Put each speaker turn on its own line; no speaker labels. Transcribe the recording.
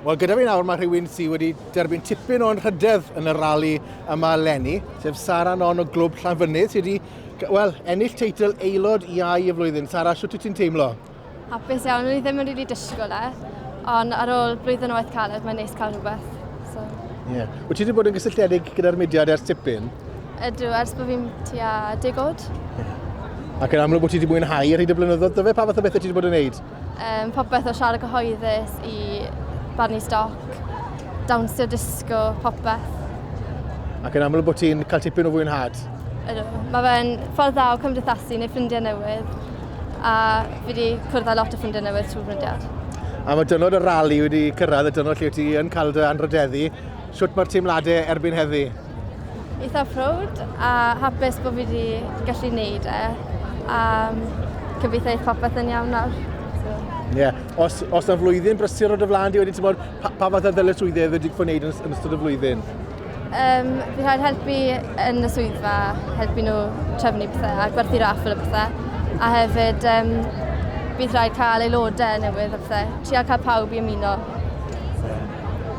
Wel, gyda fi nawr mae rhywun sydd wedi derbyn tipyn o'n rhydedd yn y rali yma lenni, sef Sara Non o Glwb Llanfynydd, sydd wedi well, ennill teitl aelod iau y flwyddyn. Sara, sut wyt ti'n teimlo? Hapus iawn, o'n
i ddim yn rili really disgwyl e, ond ar ôl blwyddyn o waith caled, mae'n neis cael rhywbeth. So. Yeah.
Wyt ti wedi bod yn gysylltiedig gyda'r mudiad ers tipyn? Ydw, ers bod
fi'n tua digod. Yeah. Ac
yn amlwg bod ti wedi mwynhau ar hyd y blynyddoedd, dyfe pa fath o bethau ti wedi bod yn gwneud? Um, popeth o
siarad gyhoeddus i barnu stoc, dawnsio disgo, popeth.
Ac yn amlwg bod ti'n cael tipyn o fwynhad? Ydw. Mae
fe'n ffordd dda o cymdeithasu neu ffrindiau newydd a fi wedi cwrdd â lot o ffrindiau newydd trwy ffrindiau. A mae dynod y
rali wedi cyrraedd y dynod lle ti yn cael dy anrhydeddu. Sut mae'r teimladau erbyn heddi? Eitha
proud a hapus bod fi wedi gallu neud e. A gobeithio i popeth yn iawn nawr. Ie. Yeah.
Os, os na flwyddyn brysur o dy flaen di wedyn, ti'n bod, pa, pa fath o ddyletswyddau wedi fod wneud yn, yn ystod y flwyddyn? Um,
fi rhaid helpu yn y swyddfa, helpu nhw trefnu pethau a gwerthu raffl y pethau. A hefyd, um, bydd rhaid cael aelodau newydd a pethau. Tria cael pawb i ymuno.